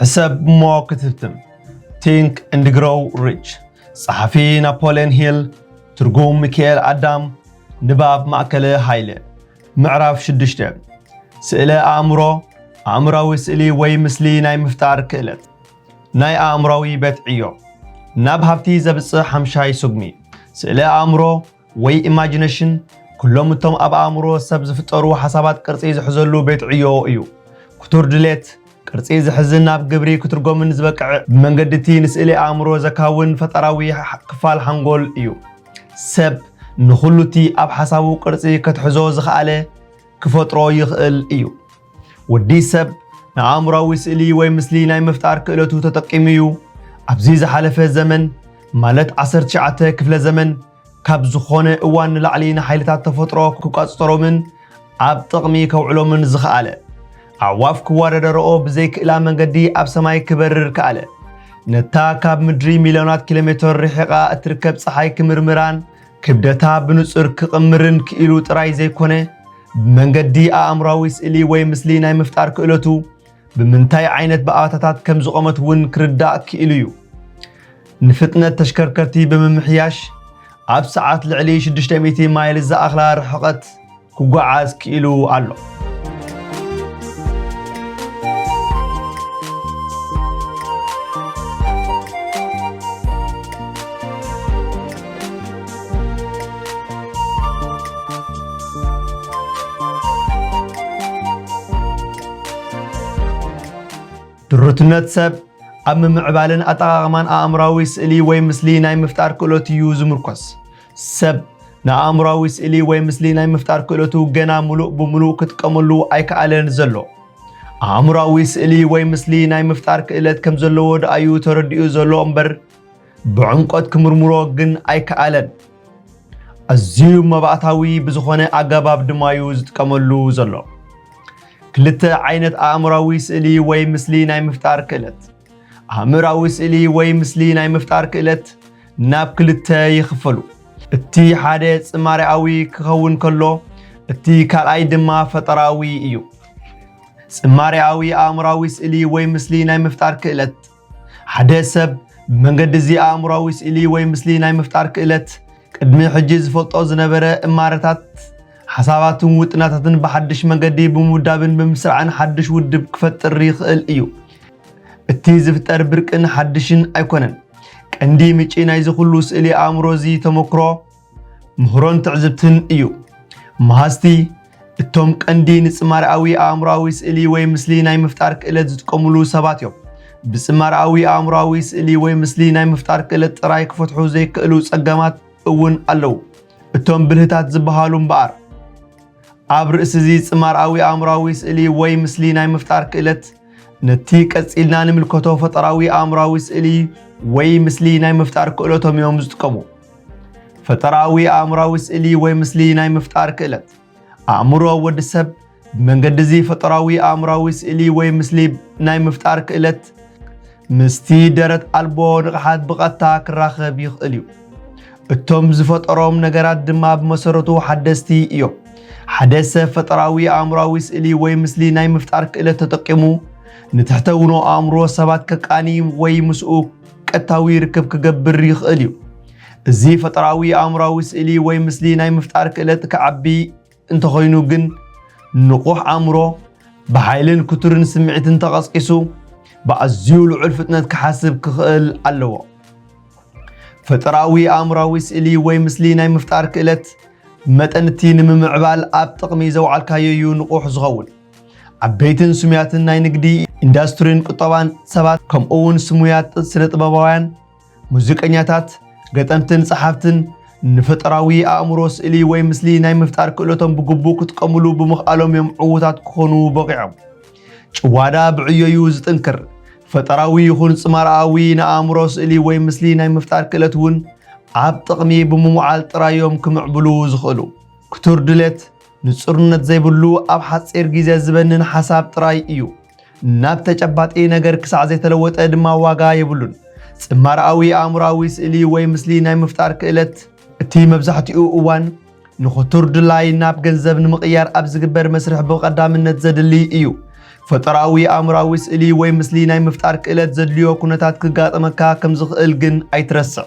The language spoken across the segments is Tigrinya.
ሕሰብ እሞ ክትህብትም ቲንክ እንድ ግሮው ሪች ጸሓፊ ናፖልዮን ሂል ትርጉም ሚካኤል ኣዳም ንባብ ማእከለ ሃይለ ምዕራፍ ሽዱሽተ ስእለ ኣእምሮ ኣእምራዊ ስእሊ ወይ ምስሊ ናይ ምፍጣር ክእለት ናይ ኣእምራዊ ቤት ዕዮ ናብ ሃብቲ ዘብጽሕ ሓምሻይ ስጉሚ ስእለ ኣእምሮ ወይ ኢማጂነሽን ኩሎም እቶም ኣብ ኣእምሮ ሰብ ዝፍጠሩ ሓሳባት ቅርጺ ዝሕዘሉ ቤት ዕዮ እዩ። ክቱር ድሌት፣ ቅርጺ ዝሕዝን ናብ ግብሪ ክትርጎምን ዝበቅዕ ብመንገዲ እቲ ንስእሊ ኣእምሮ ዘካውን ፈጠራዊ ክፋል ሓንጎል እዩ። ሰብ ንኹሉ እቲ ኣብ ሓሳቡ ቅርጺ ከትሕዞ ዝኸኣለ ክፈጥሮ ይኽእል እዩ። ወዲ ሰብ ንኣእምሮኣዊ ስእሊ ወይ ምስሊ ናይ ምፍጣር ክእለቱ ተጠቂሙ እዩ ኣብዚ ዝሓለፈ ዘመን ማለት ዓሰርተ ትሽዓተ ክፍለ ዘመን ካብ ዝኾነ እዋን ንላዕሊ ንሓይልታት ተፈጥሮ ክቋፅጠሮምን ኣብ ጥቕሚ ከውዕሎምን ዝኸኣለ ኣዕዋፍ ክወዳደረኦ ብዘይክእላ መንገዲ ኣብ ሰማይ ክበርር ከኣለ ነታ ካብ ምድሪ ሚልዮናት ኪሎ ሜትር ርሒቓ እትርከብ ፀሓይ ክምርምራን ክብደታ ብንጹር ክቕምርን ክኢሉ ጥራይ ዘይኮነ፣ ብመንገዲ ኣእምሮኣዊ ስእሊ ወይ ምስሊ ናይ ምፍጣር ክእለቱ፣ ብምንታይ ዓይነት ብኣታታት ከም ዝቖመት እውን ክርዳእ ክኢሉ እዩ። ንፍጥነት ተሽከርከርቲ ብምምሕያሽ፣ ኣብ ሰዓት ልዕሊ 600 ማይል ዝኣኽላ ርሕቐት፣ ክጓዓዝ ክኢሉ ኣሎ። ድሩትነት ሰብ ኣብ ምምዕባልን ኣጠቓቕማን ኣእምራዊ ስእሊ ወይ ምስሊ ናይ ምፍጣር ክእሎት እዩ ዝምርኮስ። ሰብ ንኣእምሮኣዊ ስእሊ ወይ ምስሊ ናይ ምፍጣር ክእለቱ ገና ምሉእ ብምሉእ ክጥቀመሉ ኣይከኣለን ዘሎ። ኣእምሮኣዊ ስእሊ ወይ ምስሊ ናይ ምፍጣር ክእለት ከም ዘለዎ ደኣ እዩ ተረዲኡ ዘሎ እምበር ብዕምቆት ክምርምሮ ግን ኣይከኣለን። ኣዝዩ መባእታዊ ብዝኾነ ኣገባብ ድማ እዩ ዝጥቀመሉ ዘሎ። ክልተ ዓይነት ኣእምራዊ ስእሊ ወይ ምስሊ ናይ ምፍጣር ክእለት ኣእምራዊ ስእሊ ወይ ምስሊ ናይ ምፍጣር ክእለት ናብ ክልተ ይኽፈሉ። እቲ ሓደ ጽማሬኣዊ ክኸውን ከሎ እቲ ካልኣይ ድማ ፈጠራዊ እዩ። ጽማሬኣዊ ኣእምራዊ ስእሊ ወይ ምስሊ ናይ ምፍጣር ክእለት ሓደ ሰብ ብመንገዲ እዚ ኣእምራዊ ስእሊ ወይ ምስሊ ናይ ምፍጣር ክእለት ቅድሚ ሕጂ ዝፈልጦ ዝነበረ እማረታት ሓሳባትን ውጥናታትን ብሓድሽ መንገዲ ብምውዳብን ብምስራዕን ሓድሽ ውድብ ክፈጥር ይኽእል እዩ። እቲ ዝፍጠር ብርቅን ሓድሽን ኣይኮነን። ቀንዲ ምጪ ናይዚ ኩሉ ስእሊ ኣእምሮ እዚ ተመክሮ ምህሮን ትዕዝብትን እዩ። መሃዝቲ እቶም ቀንዲ ንጽማርኣዊ ኣእምሮኣዊ ስእሊ ወይ ምስሊ ናይ ምፍጣር ክእለት ዝጥቀሙሉ ሰባት እዮም። ብጽማርኣዊ ኣእምሮኣዊ ስእሊ ወይ ምስሊ ናይ ምፍጣር ክእለት ጥራይ ክፈትሑ ዘይክእሉ ጸገማት እውን ኣለዉ። እቶም ብልህታት ዝበሃሉ እምበኣር ኣብ ርእሲ እዚ ጽማርኣዊ ኣእምሮኣዊ ስእሊ ወይ ምስሊ ናይ ምፍጣር ክእለት ነቲ ቀጺልና ንምልከቶ ፈጠራዊ ኣእምሮኣዊ ስእሊ ወይ ምስሊ ናይ ምፍጣር ክእለቶም እዮም ዝጥቀሙ። ፈጠራዊ ኣእምሮኣዊ ስእሊ ወይ ምስሊ ናይ ምፍጣር ክእለት ኣእምሮ ወዲ ሰብ ብመንገዲ እዚ ፈጠራዊ ኣእምራዊ ስእሊ ወይ ምስሊ ናይ ምፍጣር ክእለት ምስቲ ደረት ኣልቦ ንቕሓት ብቐጥታ ክራኸብ ይኽእል እዩ። እቶም ዝፈጠሮም ነገራት ድማ ብመሰረቱ ሓደስቲ እዮም። ሓደ ሰብ ፈጠራዊ ኣእምራዊ ስእሊ ወይ ምስሊ ናይ ምፍጣር ክእለት ተጠቂሙ ንትሕተውኖ ኣእምሮ ሰባት ከቃኒ ወይ ምስኡ ቀጥታዊ ርክብ ክገብር ይኽእል እዩ። እዚ ፈጠራዊ ኣእምሮኣዊ ስእሊ ወይ ምስሊ ናይ ምፍጣር ክእለት ክዓቢ እንተኾይኑ ግን ንቑሕ ኣእምሮ ብሓይልን ክቱርን ስምዒትን ተቐስቂሱ ብኣዝዩ ልዑል ፍጥነት ክሓስብ ክኽእል ኣለዎ። ፈጠራዊ ኣእምሮኣዊ ስእሊ ወይ ምስሊ ናይ ምፍጣር ክእለት መጠን እቲ ንምምዕባል ኣብ ጥቕሚ ዘውዓልካዮ እዩ ንቑሕ ዝኸውን። ዓበይትን ስሙያትን ናይ ንግዲ ኢንዳስትሪን ቁጠባን ሰባት ከምኡውን ስሙያት ስነ ጥበባውያን ሙዚቀኛታት፣ ገጠምትን ጸሓፍትን ንፈጠራዊ ኣእምሮ ስእሊ ወይ ምስሊ ናይ ምፍጣር ክእለቶም ብግቡእ ክጥቀምሉ ብምኽኣሎም እዮም ዕዉታት ክኾኑ በቒዖም። ጭዋዳ ብዕዮዩ ዝጥንክር። ፈጠራዊ ይኹን ጽማርኣዊ ንኣእምሮ ስእሊ ወይ ምስሊ ናይ ምፍጣር ክእለት እውን ኣብ ጥቕሚ ብምውዓል ጥራዮም ክምዕብሉ ዝኽእሉ። ክቱር ድሌት ንጹርነት ዘይብሉ ኣብ ሓጺር ግዜ ዝበንን ሓሳብ ጥራይ እዩ። ናብ ተጨባጢ ነገር ክሳዕ ዘይተለወጠ ድማ ዋጋ የብሉን። ጽማረኣዊ ኣእምሮኣዊ ስእሊ ወይ ምስሊ ናይ ምፍጣር ክእለት፣ እቲ መብዛሕትኡ እዋን ንኽቱር ድላይ ናብ ገንዘብ ንምቕያር ኣብ ዝግበር መስርሕ ብቐዳምነት ዘድሊ እዩ። ፈጠራኣዊ ኣእምሮኣዊ ስእሊ ወይ ምስሊ ናይ ምፍጣር ክእለት ዘድልዮ ኩነታት ክጋጥመካ ከም ዝኽእል ግን ኣይትረስዕ።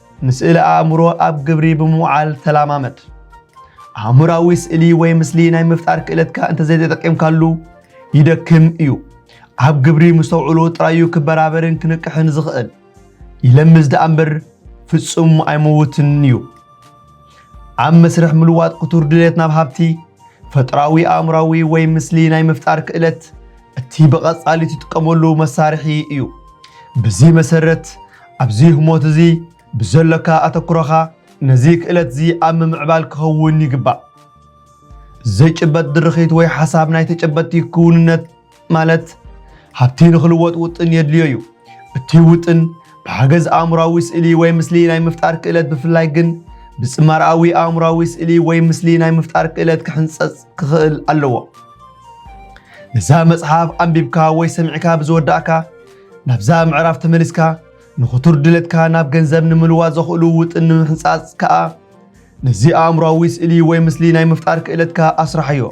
ንስእሊ ኣእምሮ ኣብ ግብሪ ብምውዓል ተላማመድ። ኣእምራዊ ስእሊ ወይ ምስሊ ናይ ምፍጣር ክእለትካ እንተዘይተጠቂምካሉ ይደክም እዩ። ኣብ ግብሪ ምስ ተውዕሎ ጥራዩ ክበራበርን ክንቅሕን ዝኽእል። ይለምዝ ደኣ እምበር ፍጹም ኣይመውትን እዩ። ኣብ መስርሕ ምልዋጥ ክቱር ድሌት ናብ ሃብቲ ፈጥራዊ ኣእምራዊ ወይ ምስሊ ናይ ምፍጣር ክእለት እቲ ብቐጻሊ ትጥቀመሉ መሳርሒ እዩ። ብዚ መሰረት ኣብዚ ህሞት እዚ ብዘሎካ ኣተኩሮኻ ነዚ ክእለት እዚ ኣብ ምምዕባል ክኸውን ይግባእ። ዘይጭበጥ ድርኺት ወይ ሓሳብ ናይ ተጨበጥቲ ክውንነት ማለት ሃብቲ ንኽልወጥ ውጥን የድልዮ እዩ። እቲ ውጥን ብሓገዝ ኣእምሮኣዊ ስእሊ ወይ ምስሊ ናይ ምፍጣር ክእለት ብፍላይ ግን ብጽማርኣዊ ኣእምሮኣዊ ስእሊ ወይ ምስሊ ናይ ምፍጣር ክእለት ክሕንጸጽ ክኽእል ኣለዎ። ነዛ መጽሓፍ ኣንቢብካ ወይ ሰሚዕካ ብዝወዳእካ ናብዛ ምዕራፍ ተመሊስካ ንኽቱር ድሌትካ ናብ ገንዘብ ንምልዋጥ ዘኽእሉ ውጥን ንምሕንጻጽ ከኣ ነዚ ኣእምሮኣዊ ስእሊ ወይ ምስሊ ናይ ምፍጣር ክእለትካ ኣስራሕዮ።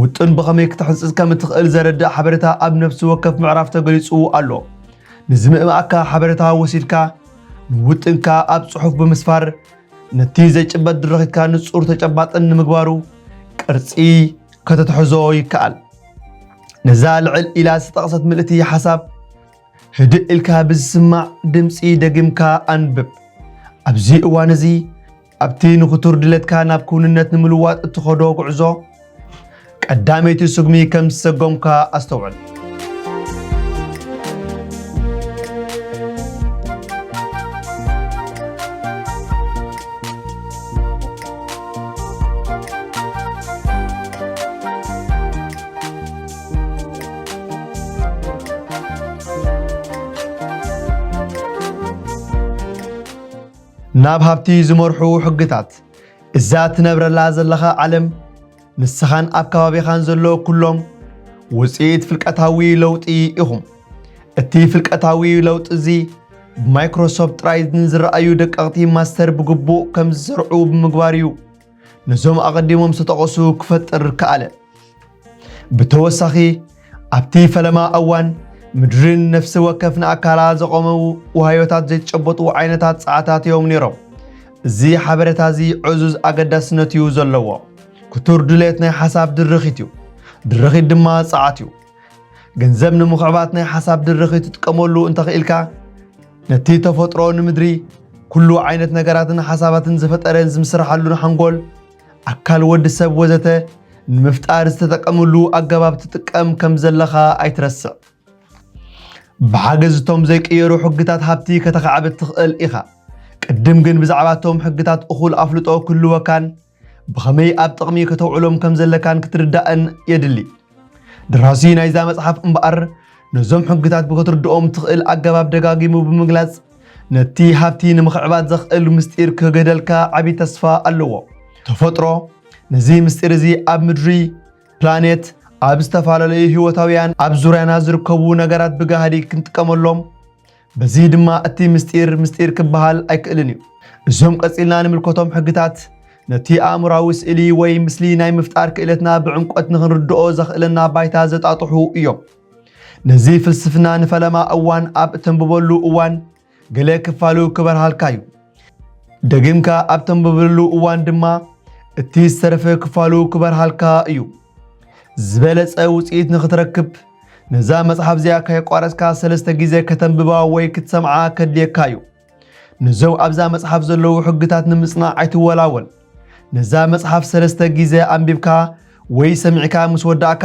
ውጥን ብኸመይ ክትሕንጽጽ ከም እትኽእል ዘረድእ ሓበሬታ ኣብ ነፍሲ ወከፍ ምዕራፍ ተገሊጹ ኣሎ። ንዝምእማኣካ ሓበሬታ ወሲድካ ንውጥንካ ኣብ ጽሑፍ ብምስፋር ነቲ ዘይጭበጥ ድርኺትካ ንጹር ተጨባጥን ንምግባሩ ቅርጺ ከተትሕዞ ይከኣል። ነዛ ልዕል ኢላ ዝተጠቕሰት ምልእቲ ሓሳብ ህድእ ኢልካ ብዝስማዕ ድምፂ ደጊምካ ኣንብብ። ኣብዚ እዋን እዚ ኣብቲ ንኽቱር ድለትካ ናብ ክውንነት ንምልዋጥ እትኸዶ ጉዕዞ ቀዳመይቲ ስጉሚ ከም ዝሰጎምካ ኣስተውዕል። ናብ ሃብቲ ዝመርሑ ሕግታት እዛ ትነብረላ ዘለኻ ዓለም ንስኻን ኣብ ከባቢኻን ዘሎ ኩሎም ውፅኢት ፍልቀታዊ ለውጢ ኢኹም። እቲ ፍልቀታዊ ለውጢ እዚ ብማይክሮሶፍት ጥራይ ንዝረኣዩ ደቀቕቲ ማስተር ብግቡእ ከም ዝሰርዑ ብምግባር እዩ። ነዞም ኣቐዲሞም ዝተጠቐሱ ክፈጥር ከኣለ። ብተወሳኺ ኣብቲ ፈለማ እዋን ምድርን ነፍሲ ወከፍ ንኣካላ ዘቖመ ዋህዮታት ዘይጨበጡ ዓይነታት ጸዓታት እዮም ነይሮም። እዚ ሓበሬታ እዚ ዕዙዝ ኣገዳስነት እዩ ዘለዎ። ክቱር ድሌት ናይ ሓሳብ ድርኺት እዩ። ድርኺት ድማ ጸዓት እዩ። ገንዘብ ንምኽዕባት ናይ ሓሳብ ድርኺ ትጥቀመሉ እንተኽኢልካ ነቲ ተፈጥሮ ንምድሪ ኩሉ ዓይነት ነገራትን ሓሳባትን ዝፈጠረን ዝምስርሓሉን ሓንጎል ኣካል ወዲ ሰብ ወዘተ ንምፍጣር ዝተጠቀምሉ ኣገባብ ትጥቀም ከም ዘለኻ ኣይትረስዕ። ብሓገዝ እቶም ዘይቅየሩ ሕግታት ሃብቲ ከተኻዕብት ትኽእል ኢኻ። ቅድም ግን ብዛዕባ እቶም ሕግታት እኹል ኣፍልጦ ክህልወካን ብኸመይ ኣብ ጥቕሚ ከተውዕሎም ከም ዘለካን ክትርዳእን የድሊ። ደራሲ ናይዛ መጽሓፍ እምበኣር ነዞም ሕግታት ብክትርድኦም ትኽእል ኣገባብ ደጋጊሙ ብምግላጽ ነቲ ሃብቲ ንምኽዕባት ዘኽእል ምስጢር ክህገደልካ ዓብዪ ተስፋ ኣለዎ። ተፈጥሮ ነዚ ምስጢር እዚ ኣብ ምድሪ ፕላኔት ኣብ ዝተፈላለዩ ህይወታውያን ኣብ ዙርያና ዝርከቡ ነገራት ብጋህዲ ክንጥቀመሎም በዚ ድማ እቲ ምስጢር ምስጢር ክበሃል ኣይክእልን እዩ። እዞም ቀጺልና ንምልከቶም ሕግታት ነቲ ኣእምራዊ ስእሊ ወይ ምስሊ ናይ ምፍጣር ክእለትና ብዕምቆት ንኽንርድኦ ዘኽእለና ባይታ ዘጣጥሑ እዮም። ነዚ ፍልስፍና ንፈለማ እዋን ኣብ እተንብበሉ እዋን ገለ ክፋሉ ክበርሃልካ እዩ። ደጊምካ ኣብ ተንብብሉ እዋን ድማ እቲ ዝተረፈ ክፋሉ ክበርሃልካ እዩ። ዝበለጸ ውጽኢት ንኽትረክብ ነዛ መጽሓፍ እዚኣ ከየቋረጽካ ሰለስተ ግዜ ከተንብባ ወይ ክትሰምዓ ከድልየካ እዩ። ነዞም ኣብዛ መጽሓፍ ዘለዉ ሕግታት ንምጽናዕ ኣይትወላወል። ነዛ መጽሓፍ ሰለስተ ግዜ ኣንቢብካ ወይ ሰሚዕካ ምስ ወዳእካ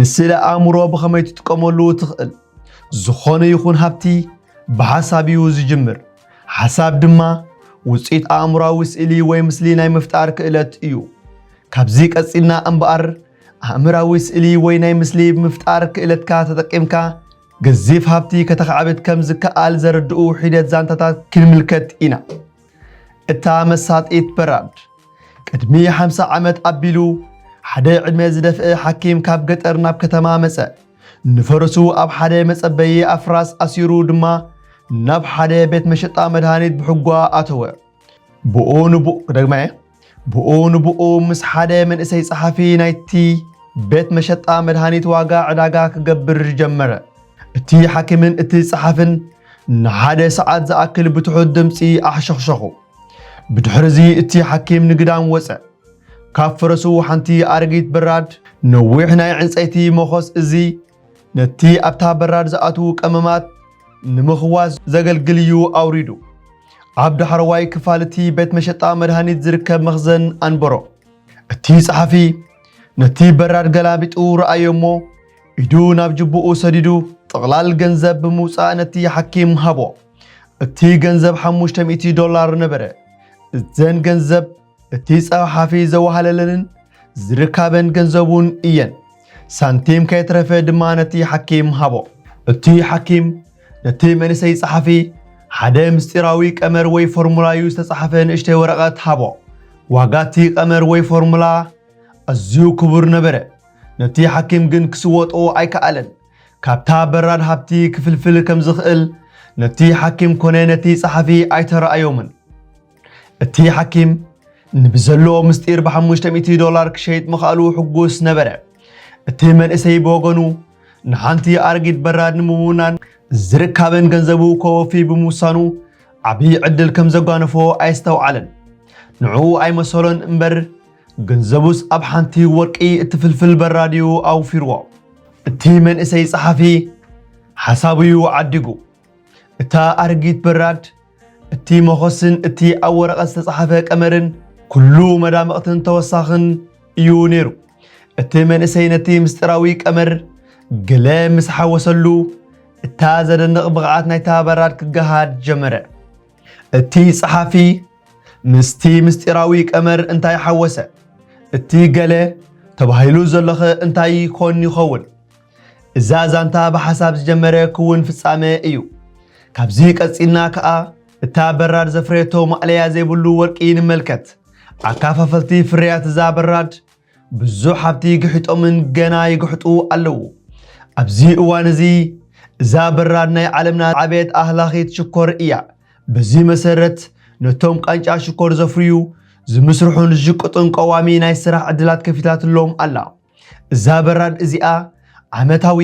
ንስለ ኣእምሮ ብኸመይ ትጥቀመሉ ትኽእል? ዝኾነ ይኹን ሃብቲ ብሓሳብ እዩ ዝጅምር። ሓሳብ ድማ ውፅኢት ኣእምሮዊ ስእሊ ወይ ምስሊ ናይ ምፍጣር ክእለት እዩ። ካብዚ ቀፂልና እምበኣር ኣእምራዊ ስእሊ ወይ ናይ ምስሊ ምፍጣር ክእለትካ ተጠቂምካ ገዚፍ ሃብቲ ከተኻዕብት ከም ዝከኣል ዘረድኡ ሒደት ዛንታታት ክንምልከት ኢና። እታ መሳጢት በራድ ቅድሚ ሓምሳ ዓመት ኣቢሉ ሓደ ዕድመ ዝደፍአ ሓኪም ካብ ገጠር ናብ ከተማ መጸ። ንፈረሱ ኣብ ሓደ መጸበዪ ኣፍራስ ኣሲሩ ድማ ናብ ሓደ ቤት መሸጣ መድሃኒት ብሕጓ ኣተወ። ብኡ ንብኡ ደግመ። ብኡ ንብኡ ምስ ሓደ መንእሰይ ጸሓፊ ናይቲ ቤት መሸጣ መድሃኒት ዋጋ ዕዳጋ ክገብር ጀመረ። እቲ ሓኪምን እቲ ጸሓፍን ንሓደ ሰዓት ዝኣክል ብትሑት ድምጺ ኣሕሸኽሸኹ። ብድሕርዚ እቲ ሓኪም ንግዳም ወጸ። ካብ ፈረሱ ሓንቲ ኣረጊት በራድ ነዊሕ ናይ ዕንጸይቲ መኾስ እዚ ነቲ ኣብታ በራድ ዝኣትዉ ቀመማት ንምኽዋዝ ዘገልግል እዩ ኣውሪዱ። ኣብ ዳሕረዋይ ክፋል እቲ ቤት መሸጣ መድሃኒት ዝርከብ መኽዘን ኣንበሮ። እቲ ጸሓፊ ነቲ በራድ ገላቢጡ ረኣዮ እሞ ኢዱ ናብ ጅቡኡ ሰዲዱ ጥቕላል ገንዘብ ብምውጻእ ነቲ ሓኪም ሃቦ። እቲ ገንዘብ ሓሙሽተ ሚእቲ ዶላር ነበረ። እዘን ገንዘብ እቲ ጸሓፊ ዘዋህለለንን ዝርካበን ገንዘቡን እየን። ሳንቲም ከየትረፈ ድማ ነቲ ሓኪም ሃቦ። እቲ ሓኪም ነቲ መንእሰይ ጸሓፊ ሓደ ምስጢራዊ ቀመር ወይ ፎርሙላዩ ዝተጻሕፈ ንእሽተይ ወረቐት ሃቦ። ዋጋቲ ቀመር ወይ ፎርሙላ ኣዝዩ ክቡር ነበረ። ነቲ ሓኪም ግን ክስወጦ ኣይከኣለን። ካብታ በራድ ሃብቲ ክፍልፍል ከም ዝኽእል ነቲ ሓኪም ኮነ ነቲ ጸሓፊ ኣይተረኣዮምን። እቲ ሓኪም ንብዘለዎ ምስጢር ብሓሙሽተ ሚእቲ ዶላር ክሸይጥ ምኽኣሉ ሕጉስ ነበረ። እቲ መንእሰይ ብወገኑ ንሓንቲ ኣረጊት በራድ ንምውናን ዝርካበን ገንዘቡ ከወፊ ብምውሳኑ ዓብዪ ዕድል ከም ዘጓነፎ ኣየስተውዓለን። ንዕኡ ኣይመሰሎን እምበር ገንዘቡስ ኣብ ሓንቲ ወርቂ እትፍልፍል በራድ እዩ ኣውፊርዎ። እቲ መንእሰይ ጸሓፊ ሓሳቡ እዩ ዓዲጉ። እታ ኣረጊት በራድ እቲ መኾስን እቲ ኣብ ወረቐት ዝተጻሕፈ ቀመርን ኩሉ መዳምቕትን ተወሳኽን እዩ ነይሩ። እቲ መንእሰይ ነቲ ምስጢራዊ ቀመር ገለ ምስ ሓወሰሉ እታ ዘደንቕ ብቕዓት ናይታ በራድ ክገሃድ ጀመረ። እቲ ጸሓፊ ምስቲ ምስጢራዊ ቀመር እንታይ ሓወሰ? እቲ ገለ ተባሂሉ ዘሎኸ እንታይ ኮን ይኸውን? እዛ ዛንታ ብሓሳብ ዝጀመረ ክውን ፍጻመ እዩ። ካብዚ ቀጺልና ከኣ እታ በራድ ዘፍረየቶ ማእለያ ዘይብሉ ወርቂ ንመልከት። ኣካፋፈልቲ ፍርያት እዛ በራድ ብዙሕ ሃብቲ ግሒጦምን ገና ይግሕጡ ኣለዉ። ኣብዚ እዋን እዚ እዛ በራድ ናይ ዓለምና ዓብየት ኣህላኺት ሽኮር እያ። በዚ መሰረት ነቶም ቃንጫ ሽኮር ዘፍርዩ፣ ዝምስርሑን ዝሽቅጡን ቀዋሚ ናይ ስራሕ ዕድላት ከፊታትሎም ኣላ። እዛ በራድ እዚኣ ዓመታዊ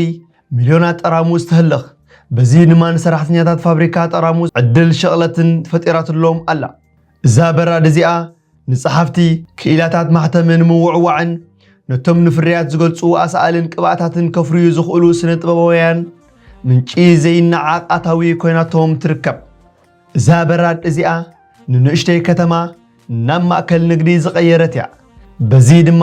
ሚልዮናት ጠራሙዝ ተህልኽ። በዚ ድማ ንሰራሕተኛታት ፋብሪካ ጠራሙዝ ዕድል ሸቕለትን ፈጢራትሎም ኣላ። እዛ በራድ እዚኣ ንጸሓፍቲ፣ ክኢላታት ማሕተሚ ንምውዕዋዕን ነቶም ንፍርያት ዝገልጹ ኣሳእልን ቅብኣታትን ከፍርዩ ዝኽእሉ ስነ ጥበባውያን ምንጪ ዘይነዓቕ ኣታዊ ኮይናቶም ትርከብ። እዛ በራድ እዚኣ ንንእሽተይ ከተማ ናብ ማእከል ንግዲ ዝቐየረት እያ። በዚ ድማ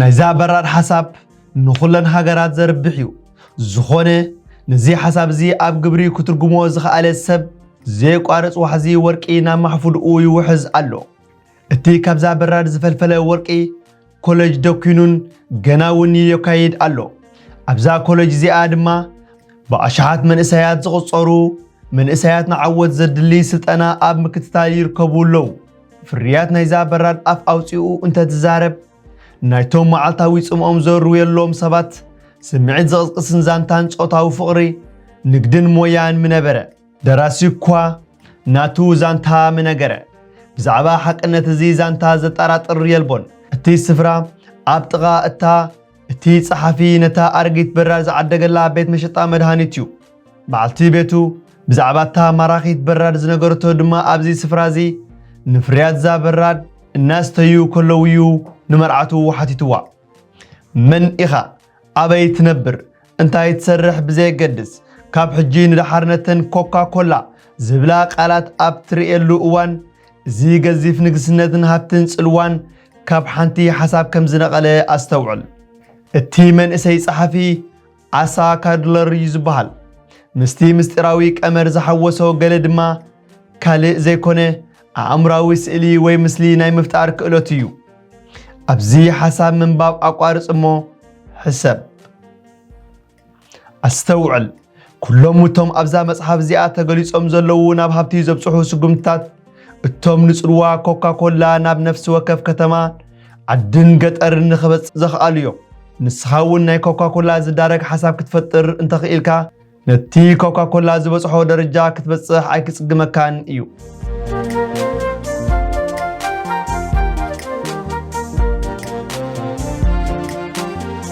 ናይዛ በራር ሓሳብ ንኹለን ሃገራት ዘርብሕ እዩ። ዝኾነ ነዚ ሓሳብ እዚ ኣብ ግብሪ ክትርጉሞ ዝኸኣለ ሰብ ዘየቋርፅ ዋሕዚ ወርቂ ናብ ማሕፉድኡ ይውሕዝ ኣሎ። እቲ ካብዛ በራድ ዝፈልፈለ ወርቂ ኮለጅ ደኲኑን ገና እውን የካይድ ኣሎ። ኣብዛ ኮለጅ እዚኣ ድማ ብኣሽሓት መንእሰያት ዝቑጸሩ መንእሰያት ንዓወት ዘድልይ ስልጠና ኣብ ምክትታል ይርከቡ ኣለዉ። ፍርያት ናይዛ በራድ ኣፍ ኣውጺኡ እንተትዛረብ ናይቶም መዓልታዊ ጽምኦም ዘርውየሎም ሰባት ስምዒት ዝቕስቅስን ዛንታን ጾታዊ ፍቕሪ፣ ንግድን ሞያን ምነበረ። ደራሲ እኳ ናቱ ዛንታ ምነገረ። ብዛዕባ ሓቅነት እዚ ዛንታ ዘጠራጥር የልቦን። እቲ ስፍራ ኣብ ጥቓ እታ እቲ ጸሓፊ ነታ ኣረጊት በራድ ዝዓደገላ ቤት መሸጣ መድሃኒት እዩ። በዓልቲ ቤቱ ብዛዕባ እታ ማራኺት በራድ ዝነገረቶ ድማ ኣብዚ ስፍራ እዚ ንፍርያት እዛ በራድ እናስተዩ ከለው'ዩ ንመርዓቱ ሓቲትዋ። መን ኢኻ ኣበይ ትነብር እንታይ ትሰርሕ ብዘየገድስ ካብ ሕጂ ንደሓር ነተን ኮካ ኮላ ዝብላ ቃላት ኣብ ትርእየሉ እዋን እዚ ገዚፍ ንግስነትን ሃብትን ጽልዋን ካብ ሓንቲ ሓሳብ ከም ዝነቐለ ኣስተውዕል። እቲ መንእሰይ ጸሓፊ ዓሳ ካድለር እዩ ዝበሃል። ምስቲ ምስጢራዊ ቀመር ዝሓወሶ ገለ ድማ ካልእ ዘይኮነ ኣእምራዊ ስእሊ ወይ ምስሊ ናይ ምፍጣር ክእለቱ እዩ። ኣብዚ ሓሳብ ምንባብ ኣቋርጽ እሞ ሕሰብ። ኣስተውዕል፣ ኩሎም እቶም ኣብዛ መጽሓፍ እዚኣ ተገሊጾም ዘለዉ ናብ ሃብቲ ዘብጽሑ ስጉምትታት፣ እቶም ንጽልዋ ኮካኮላ ናብ ነፍሲ ወከፍ ከተማ ዓድን ገጠርን ንኽበጽ ዘኽኣሉ እዮም። ንስኻ እውን ናይ ኮካኮላ ዝዳረግ ሓሳብ ክትፈጥር እንተኽኢልካ ነቲ ኮካኮላ ዝበጽሖ ደረጃ ክትበጽሕ ኣይክጽግመካን እዩ።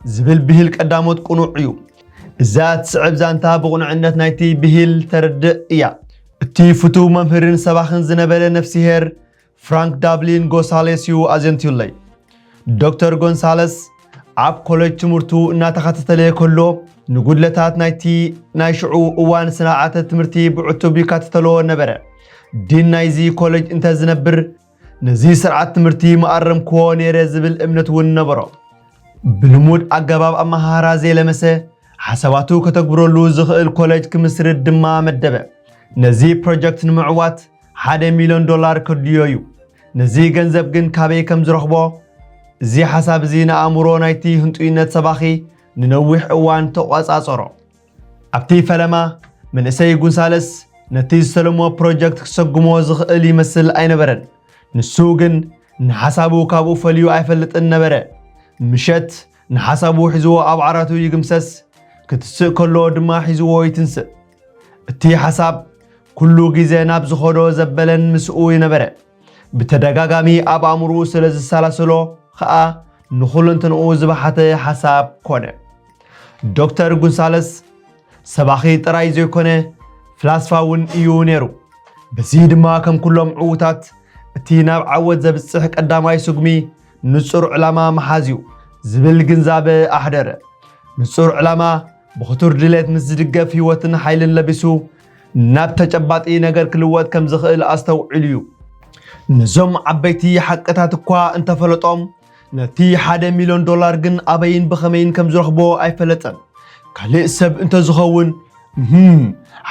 ዝብል ብሂል ቀዳሞት ቅኑዕ እዩ። እዛ እትስዕብ ዛንታ ብቕኑዕነት ናይቲ ብሂል ተርድእ እያ። እቲ ፍቱው መምህርን ሰባኽን ዝነበረ ነፍሲሄር ፍራንክ ዳብሊን ጎሳሌስ እዩ ኣዘንትዩለይ። ዶክተር ጎንሳለስ ኣብ ኮለጅ ትምህርቱ እናተኸታተለ ከሎ ንጉድለታት ናይቲ ናይ ሽዑ እዋን ስርዓተ ትምህርቲ ብዕቱብ ይከታተሎ ነበረ። ዲን ናይዚ ኮለጅ እንተዝነብር ነዚ ስርዓት ትምህርቲ መኣረምክዎ ነይረ ዝብል እምነት እውን ነበሮ። ብልሙድ ኣገባብ ኣመሃህራ ዘይለመሰ፣ ሓሳባቱ ከተግብረሉ ዝኽእል ኮለጅ ክምስርት ድማ መደበ። ነዚ ፕሮጀክት ንምዕዋት ሓደ ሚልዮን ዶላር ከድልዮ እዩ። ነዚ ገንዘብ ግን ካበይ ከም ዝረኽቦ፣ እዚ ሓሳብ እዚ ንኣእምሮ ናይቲ ህንጡይነት ሰባኺ ንነዊሕ እዋን ተቖጻጸሮ። ኣብቲ ፈለማ መንእሰይ ጉንሳለስ ነቲ ዝተለሞ ፕሮጀክት ክሰጉሞ ዝኽእል ይመስል ኣይነበረን። ንሱ ግን ንሓሳቡ ካብኡ ፈልዩ ኣይፈልጥን ነበረ። ምሸት ንሓሳቡ ሒዝዎ ኣብ ዓራቱ ይግምሰስ፣ ክትስእ ከሎ ድማ ሒዝዎ ይትንስእ። እቲ ሓሳብ ኩሉ ግዜ ናብ ዝኸዶ ዘበለን ምስኡ ነበረ። ብተደጋጋሚ ኣብ ኣእምርኡ ስለ ዝሰላስሎ ኸኣ ንኹለንትንኡ ዝበሓተ ሓሳብ ኮነ። ዶክተር ጉንሳለስ ሰባኺ ጥራይ ዘይኮነ ፍላስፋ እውን እዩ ነይሩ። በዚ ድማ ከም ኩሎም ዕዉታት እቲ ናብ ዓወት ዘብጽሕ ቀዳማይ ስጉሚ ንጹር ዕላማ ምሓዝ እዩ ዝብል ግንዛበ ኣሕደረ። ንጹር ዕላማ ብኽቱር ድሌት ምስ ዝድገፍ ህይወትን ሓይልን ለቢሱ ናብ ተጨባጢ ነገር ክልወጥ ከም ዝኽእል ኣስተውዒሉ እዩ። ነዞም ዓበይቲ ሓቅታት እኳ እንተፈለጦም ነቲ ሓደ ሚልዮን ዶላር ግን ኣበይን ብኸመይን ከም ዝረኽቦ ኣይፈለጠን። ካልእ ሰብ እንተዝኸውን እህም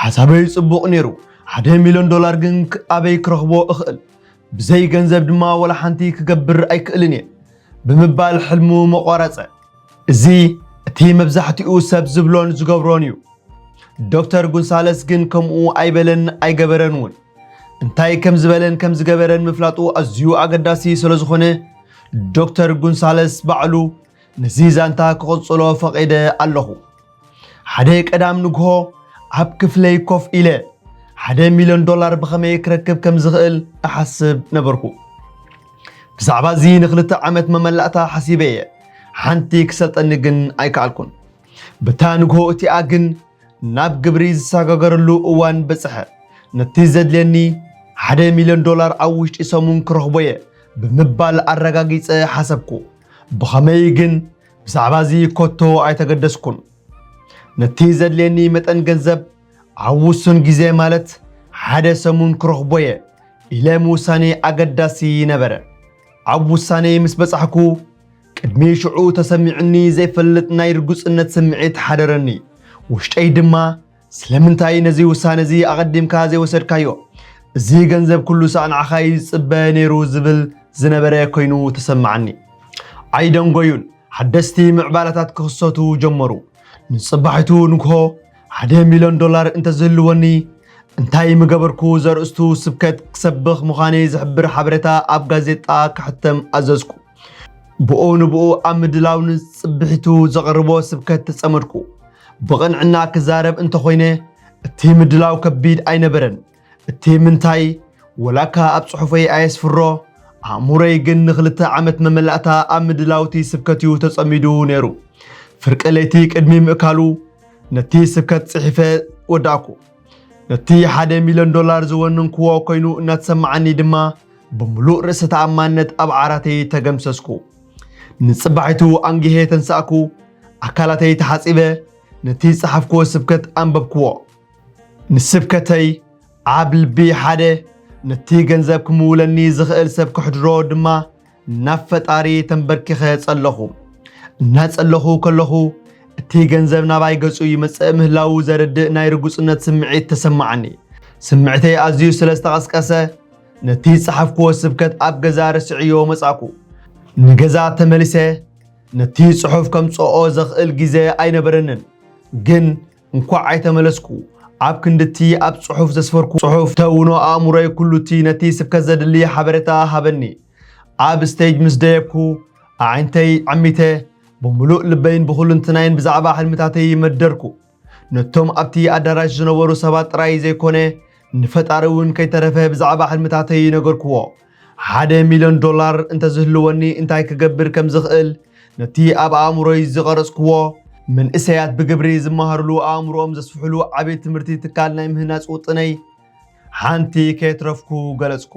ሓሳበይ ጽቡቕ ነይሩ፣ ሓደ ሚልዮን ዶላር ግን ኣበይ ክረኽቦ እኽእል? ብዘይ ገንዘብ ድማ ወላ ሓንቲ ክገብር ኣይክእልን እየ ብምባል ሕልሙ መቋረጸ። እዚ እቲ መብዛሕትኡ ሰብ ዝብሎን ዝገብሮን እዩ። ዶክተር ጉንሳለስ ግን ከምኡ ኣይበለን ኣይገበረን እውን። እንታይ ከም ዝበለን ከም ዝገበረን ምፍላጡ ኣዝዩ ኣገዳሲ ስለ ዝኾነ ዶክተር ጉንሳለስ ባዕሉ ነዚ ዛንታ ክቕጽሎ ፈቒደ ኣለኹ። ሓደ ቀዳም ንግሆ ኣብ ክፍለይ ኮፍ ኢለ ሓደ ሚልዮን ዶላር ብኸመይ ክረክብ ከም ዝኽእል እሓስብ ነበርኩ ብዛዕባ እዚ ንክልተ ዓመት መመላእታ ሓሲበ እየ ሓንቲ ክሰልጠኒ ግን ኣይከኣልኩን በታ ንግሆ እቲኣ ግን ናብ ግብሪ ዝሰጋገረሉ እዋን በፅሐ ነቲ ዘድልየኒ ሓደ ሚልዮን ዶላር ኣብ ውሽጢ ሰሙን ክረኽቦ እየ ብምባል ኣረጋጊፀ ሓሰብኩ ብኸመይ ግን ብዛዕባ እዚ ኮቶ ኣይተገደስኩን። ነቲ ዘድልየኒ መጠን ገንዘብ ኣብ ውሱን ግዜ ማለት ሓደ ሰሙን ክረኽቦ እየ ኢለ ምውሳኔ ኣገዳሲ ነበረ። ኣብ ውሳኔ ምስ በጻሕኩ ቅድሚ ሽዑ ተሰሚዑኒ ዘይፈልጥ ናይ ርጉጽነት ስምዒት ሓደረኒ። ውሽጠይ ድማ ስለምንታይ ነዚ ውሳነ እዚ ኣቐዲምካ ዘይወሰድካዮ? እዚ ገንዘብ ኩሉ ሳዕ ንዓኻ እዩ ዝጽበ ነይሩ ዝብል ዝነበረ ኮይኑ ተሰማዓኒ። ኣይደንጎዩን፣ ሓደስቲ ምዕባለታት ክኽሰቱ ጀመሩ። ንጽባሒቱ ንግሆ ሓደ ሚልዮን ዶላር እንተዝህልወኒ እንታይ ምገበርኩ ዘርእስቱ ስብከት ክሰብኽ ምዃነይ ዝሕብር ሓበሬታ ኣብ ጋዜጣ ክሕተም ኣዘዝኩ። ብኡ ንብኡ ኣብ ምድላው ንጽብሒቱ ዘቕርቦ ስብከት ተጸመድኩ። ብቕንዕና ክዛረብ እንተኾይነ እቲ ምድላው ከቢድ ኣይነበረን። እቲ ምንታይ ወላካ ኣብ ጽሑፈይ ኣየስፍሮ፣ ኣእምሮይ ግን ንክልተ ዓመት መመላእታ ኣብ ምድላውቲ ስብከትዩ ተጸሚዱ ነይሩ። ፍርቂ ለይቲ ቅድሚ ምእካሉ ነቲ ስብከት ጽሒፈ ወዳእኩ። ነቲ ሓደ ሚልዮን ዶላር ዝወንንክዎ ኮይኑ እናተሰማዓኒ ድማ ብምሉእ ርእሰ ተኣማንነት ኣብ ዓራተይ ተገምሰስኩ። ንጽባሒቱ ኣንጊሄ ተንሳእኩ፣ ኣካላተይ ተሓጺበ ነቲ ዝጸሓፍክዎ ስብከት ኣንበብክዎ። ንስብከተይ ኣብ ልቢ ሓደ ነቲ ገንዘብ ክምውለኒ ዝኽእል ሰብ ከሕድሮ ድማ ናብ ፈጣሪ ተንበርኪኸ ጸለኹ። እናጸለኹ ከለኹ እቲ ገንዘብ ናባይ ገጹ ይመጽእ ምህላዉ ዘርድእ ናይ ርጉጽነት ስምዒት ተሰማዓኒ። ስምዕተይ ኣዝዩ ስለ ዝተቐስቀሰ ነቲ ዝጸሓፍክዎ ስብከት ኣብ ገዛ ረስዕዮ መጻእኩ። ንገዛ ተመሊሰ ነቲ ጽሑፍ ከምጽኦ ዘኽእል ግዜ ኣይነበረንን፣ ግን እንኳዕ ኣይተመለስኩ ኣብ ክንድቲ ኣብ ጽሑፍ ዘስፈርኩ ጽሑፍ ተውኖ ኣእምሮይ ኩሉቲ ነቲ ስብከት ዘድሊ ሓበሬታ ሃበኒ ኣብ ስቴጅ ምስ ደየብኩ ኣዒንተይ ዐሚተ ብምሉእ ልበይን ብኹሉንትናይን ብዛዕባ ሕልምታተይ መደርኩ ነቶም ኣብቲ ኣዳራሽ ዝነበሩ ሰባት ጥራይ ዘይኮነ ንፈጣሪ እውን ከይተረፈ ብዛዕባ ሕልምታተይ ነገርኩዎ ሓደ ሚልዮን ዶላር እንተ ዝህልወኒ እንታይ ክገብር ከም ዝኽእል፣ ነቲ ኣብ ኣእምሮይ ዝቐረጽኩዎ፣ መንእሰያት ብግብሪ ዝመሃሩሉ ኣእምሮኦም ዘስፍሑሉ ዓቢ ትምህርቲ ትካል ናይ ምህናጽ ውጥነይ ሓንቲ ከየትረፍኩ ገለጽኩ።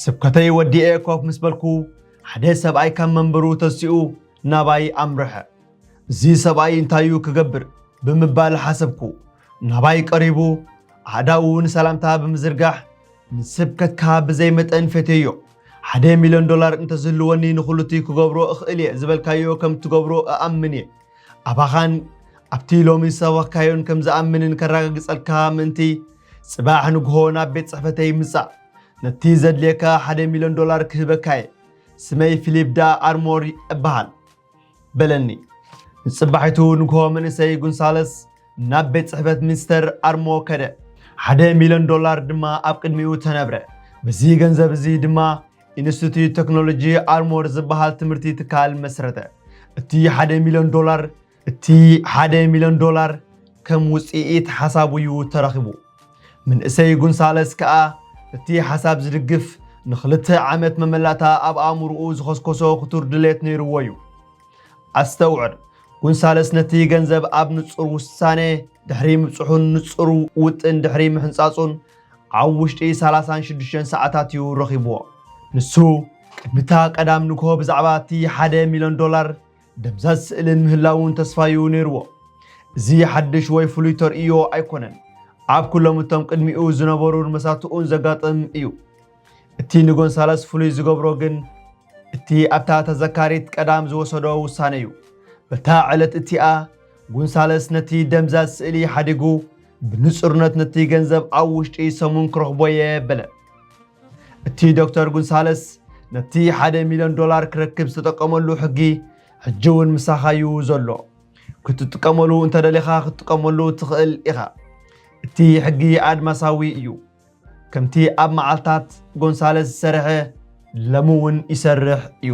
ስብከተይ ወዲኤ ኮፍ ምስ በልኩ ሓደ ሰብኣይ ካብ መንበሩ ተሲኡ ናባይ ኣምርሐ። እዚ ሰብኣይ እንታዩ ክገብር ብምባል ሓሰብኩ። ናባይ ቀሪቡ ኣእዳዉ ንሰላምታ ብምዝርጋሕ ንስብከትካ ብዘይ መጠን ፈቴዮ። ሓደ ሚልዮን ዶላር እንተዝህልወኒ ንኹሉቲ ክገብሮ እኽእል እየ ዝበልካዮ ከም እትገብሮ እኣምን እየ። ኣባኻን ኣብቲ ሎሚ ዝሰበኽካዮን ከም ዝኣምንን ከረጋግጸልካ ምእንቲ፣ ጽባሕ ንግሆ ናብ ቤት ጽሕፈተይ ምጻእ። ነቲ ዘድልየካ ሓደ ሚልዮን ዶላር ክህበካ እየ። ስመይ ፊሊፕ ዳኣርሞር እበሃል። በለኒ። ንጽባሒቱ ንግሆ መንእሰይ ጉንሳለስ ናብ ቤት ጽሕፈት ሚኒስተር ኣርሞ ከደ። ሓደ ሚልዮን ዶላር ድማ ኣብ ቅድሚኡ ተነብረ። በዚ ገንዘብ እዚ ድማ ኢንስቲትዩት ቴክኖሎጂ ኣርሞር ዝበሃል ትምህርቲ ትካል መስረተ። እቲ ሓደ ሚልዮን ዶላር እቲ ሓደ ሚልዮን ዶላር ከም ውጽኢት ሓሳቡ እዩ ተረኺቡ። ምንእሰይ ጉንሳለስ ከኣ እቲ ሓሳብ ዝድግፍ ንኽልተ ዓመት መመላእታ ኣብ ኣእምሮኡ ዝኸስኮሶ ክቱር ድሌት ነይርዎ እዩ። ኣስተውዕል፣ ጉንሳለስ ነቲ ገንዘብ ኣብ ንጹር ውሳነ ድሕሪ ምብጽሑን ንጹር ውጥን ድሕሪ ምሕንጻጹን ኣብ ውሽጢ ሰላሳን ሽዱሽተን ሰዓታት እዩ ረኺብዎ። ንሱ ቅድሚታ ቀዳም ንግሆ ብዛዕባ እቲ ሓደ ሚልዮን ዶላር ደብዛዝ ስእልን ምህላውን ተስፋዩ ነይርዎ። እዚ ሓድሽ ወይ ፍሉይ ተርእዮ ኣይኮነን፣ ኣብ ኩሎም እቶም ቅድሚኡ ዝነበሩን መሳትኡን ዘጋጥም እዩ። እቲ ንጎንሳለስ ፍሉይ ዝገብሮ ግን እቲ ኣብታ ተዘካሪት ቀዳም ዝወሰዶ ውሳነ እዩ። በታ ዕለት እቲኣ ጎንሳለስ ነቲ ደምዛዝ ስእሊ ሓዲጉ ብንጹርነት ነቲ ገንዘብ ኣብ ውሽጢ ሰሙን ክረኽቦ እየ በለ። እቲ ዶክተር ጉንሳለስ ነቲ ሓደ ሚልዮን ዶላር ክረክብ ዝተጠቀመሉ ሕጊ ሕጂ እውን ምሳኻ እዩ ዘሎ ክትጥቀመሉ እንተደሊኻ ክትጥቀመሉ ትኽእል ኢኻ እቲ ሕጊ ኣድማሳዊ እዩ ከምቲ ኣብ መዓልታት ጎንሳለስ ዝሰርሐ ለምውን ይሰርሕ እዩ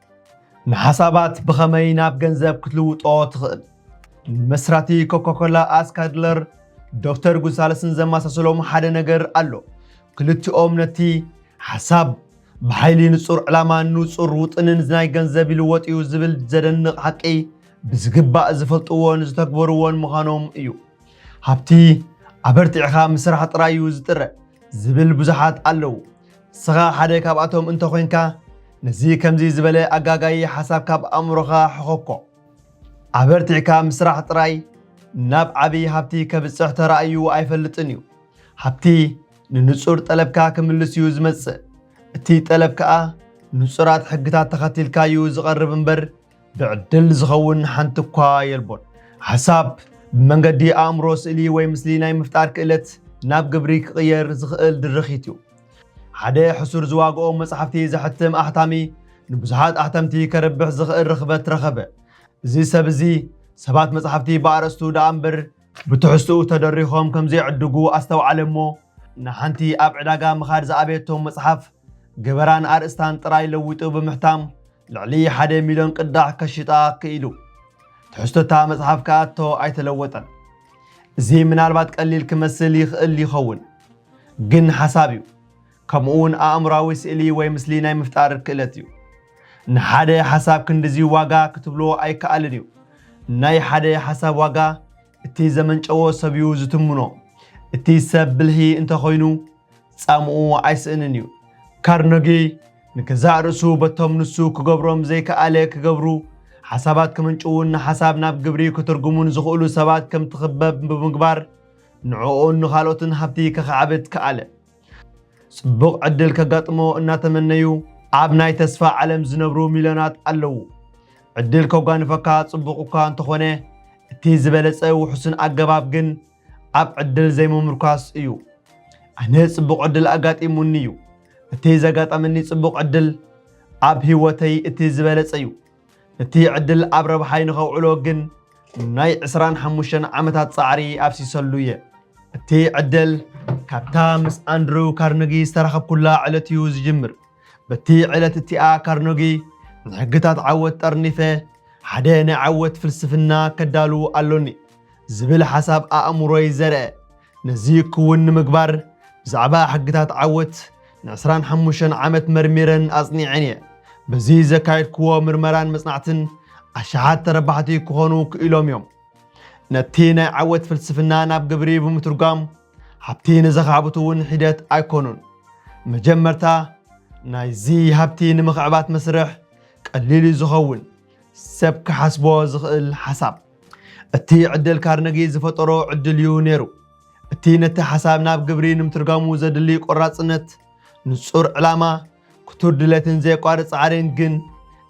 ንሓሳባት ብኸመይ ናብ ገንዘብ ክትልውጦ ትኽእል? መስራቲ ኮካኮላ ኣስካድለር ዶክተር ጉንሳለስን ዘመሳሰሎም ሓደ ነገር ኣሎ። ክልቲኦም ነቲ ሓሳብ ብሓይሊ ንጹር ዕላማን ንጹር ውጥንን ናይ ገንዘብ ይልወጥ እዩ ዝብል ዘደንቕ ሓቂ ብዝግባእ ዝፈልጥዎን ዝተግበርዎን ምዃኖም እዩ። ሃብቲ ኣበርቲዕኻ ምስራሕ ጥራይ እዩ ዝጥረ ዝብል ብዙሓት ኣለዉ። ንስኻ ሓደ ካብኣቶም እንተ ዄንካ፣ ነዚ ከምዚ ዝበለ ኣጋጋዪ ሓሳብ ካብ ኣእምሮኻ ሕዀኮ። ኣበርቲዕካ ምስራሕ ጥራይ ናብ ዓብዪ ሃብቲ ኬብጽሕ ተራእዩ ኣይፈልጥን እዩ። ሃብቲ ንንጹር ጠለብካ ኪምልስ እዩ ዚመጽእ፣ እቲ ጠለብ ከኣ ንጹራት ሕግታት ተኸቲልካ እዩ ዚቐርብ እምበር፣ ብዕድል ዝኸውን ሓንቲ እኳ የልቦን። ሓሳብ ብመንገዲ ኣእምሮ ስእሊ ወይ ምስሊ ናይ ምፍጣር ክእለት ናብ ግብሪ ክቕየር ዝኽእል ድርኺት እዩ። ሓደ ሕሱር ዝዋግኦም መጻሕፍቲ ዘሕትም ኣሕታሚ ንብዙሓት ኣሕተምቲ ከርብሕ ዝኽእል ርኽበት ረኸበ። እዚ ሰብ እዚ ሰባት መጻሕፍቲ ብኣርእስቱ ደኣ እምበር ብትሕዝትኡ ተደሪኾም ከም ዘይዕድጉ ኣስተውዓለ እሞ ንሓንቲ ኣብ ዕዳጋ ምኻድ ዝኣበየቶ መጽሓፍ ገበራን ኣርእስታን ጥራይ ለዊጡ ብምሕታም ልዕሊ ሓደ ሚልዮን ቅዳሕ ከሽጣ ክኢሉ። ትሕዝቶታ መጽሓፍ ከኣቶ ኣይተለወጠን። እዚ ምናልባት ቀሊል ክመስል ይኽእል ይኸውን፣ ግን ሓሳብ እዩ። ከምኡውን ኣእምራዊ ስእሊ ወይ ምስሊ ናይ ምፍጣር ክእለት እዩ። ንሓደ ሓሳብ ክንድዚ ዋጋ ክትብሎ ኣይከኣልን እዩ። ናይ ሓደ ሓሳብ ዋጋ እቲ ዘመንጨዎ ሰብ እዩ ዝትምኖ። እቲ ሰብ ብልሂ እንተኾይኑ ጻምኡ ኣይስእንን እዩ። ካርነጊ ንገዛእ ርእሱ በቶም ንሱ ክገብሮም ዘይከኣለ ክገብሩ፣ ሓሳባት ክምንጭዉን ንሓሳብ ናብ ግብሪ ክትርጉሙን ዝኽእሉ ሰባት ከም ትኽበብ ብምግባር ንዕኡን ንኻልኦትን ሃብቲ ከኻዕብት ከኣለ። ጽቡቕ ዕድል ከጋጥሞ እናተመነዩ ኣብ ናይ ተስፋ ዓለም ዝነብሩ ሚልዮናት ኣለዉ። ዕድል ከጓንፈካ ጽቡቕ እኳ እንተኾነ እቲ ዝበለጸ ውሑስን ኣገባብ ግን ኣብ ዕድል ዘይምምርኳስ እዩ። ኣነ ጽቡቕ ዕድል ኣጋጢሙኒ እዩ። እቲ ዘጋጠመኒ ጽቡቕ ዕድል ኣብ ህይወተይ እቲ ዝበለጸ እዩ። እቲ ዕድል ኣብ ረብሓይ ንኸውዕሎ ግን ናይ 25 ዓመታት ጻዕሪ ኣፍሲሰሉ እየ። እቲ ዕድል ካብታ ምስ ኣንድሩ ካርነጊ ዝተራኸብኩላ ዕለት እዩ ዝጅምር። በቲ ዕለት እቲኣ ካርነጊ ንሕግታት ዓወት ጠርኒፈ ሓደ ናይ ዓወት ፍልስፍና ከዳሉ ኣሎኒ። ዝብል ሓሳብ ኣእምሮይ ዘርእ። ነዚ ክውን ንምግባር ብዛዕባ ሕግታት ዓወት ንዕስራን ሓሙሽተን ዓመት መርሚረን ኣጽኒዐን እየ። በዚ ዘካየድክዎ ምርመራን መጽናዕትን ኣሽሓት ተረባሕቲ ክኾኑ ክኢሎም እዮም። ነቲ ናይ ዓወት ፍልስፍና ናብ ግብሪ ብምትርጓም ሃብቲ ንዘኻዕብቱ እውን ሒደት ኣይኮኑን። መጀመርታ ናይዚ ሃብቲ ንምኽዕባት መስርሕ ቀሊል እዩ ዝኸውን ሰብ ክሓስቦ ዝኽእል ሓሳብ። እቲ ዕደል ካርነጊ ዝፈጠሮ ዕድል እዩ ነይሩ። እቲ ነቲ ሓሳብ ናብ ግብሪ ንምትርጋሙ ዘድሊ ቆራጽነት፣ ንጹር ዕላማ፣ ክቱር ድሌትን ዘየቋርጽ ጻዕርን ግን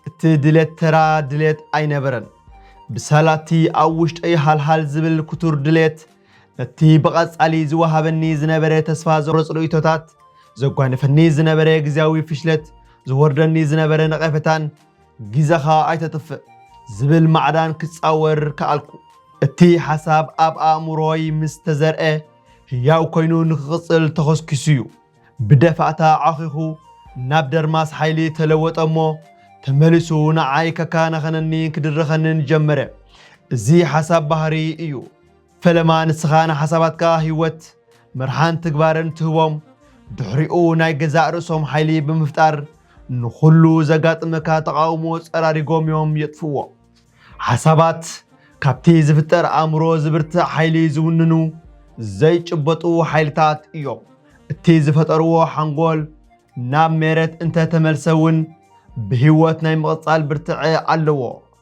እቲ ድሌት ተራ ድሌት ኣይነበረን። ብሰላ እቲ ኣብ ውሽጠይ ሃልሃል ዝብል ክቱር ድሌት ነቲ ብቐጻሊ ዝወሃበኒ ዝነበረ ተስፋ ዘቑርጽ ርእይቶታት፣ ዘጓነፈኒ ዝነበረ ግዜያዊ ፍሽለት፣ ዝወርደኒ ዝነበረ ነቐፈታን ግዘኻ ኣይተጥፍእ ዝብል ማዕዳን ክጻወር ከኣልኩ። እቲ ሓሳብ ኣብ ኣእምሮይ ምስ ተዘርአ ህያው ኮይኑ ንክቕጽል ተኾስኪሱ እዩ። ብደፋእታ ዓኺኹ ናብ ደርማስ ሓይሊ ተለወጠ እሞ ተመሊሱ ንዓይ ከከናኸነኒ ክድርኸንን ጀመረ። እዚ ሓሳብ ባህሪ እዩ። ፈለማ ንስኻ ንሓሳባትካ ህይወት፣ መርሓን ትግባረን ትህቦም፣ ድሕሪኡ ናይ ገዛእ ርእሶም ሓይሊ ብምፍጣር ንኹሉ ዘጋጥመካ ተቓውሞ ጸራሪጎም እዮም የጥፍእዎ። ሓሳባት ካብቲ ዝፍጠር ኣእምሮ ዝብርትዕ ሓይሊ ዝውንኑ ዘይጭበጡ ሓይልታት እዮም። እቲ ዝፈጠርዎ ሓንጎል ናብ ሜረት እንተ ተመልሰ እውን ብህይወት ናይ ምቕጻል ብርትዐ ኣለዎ።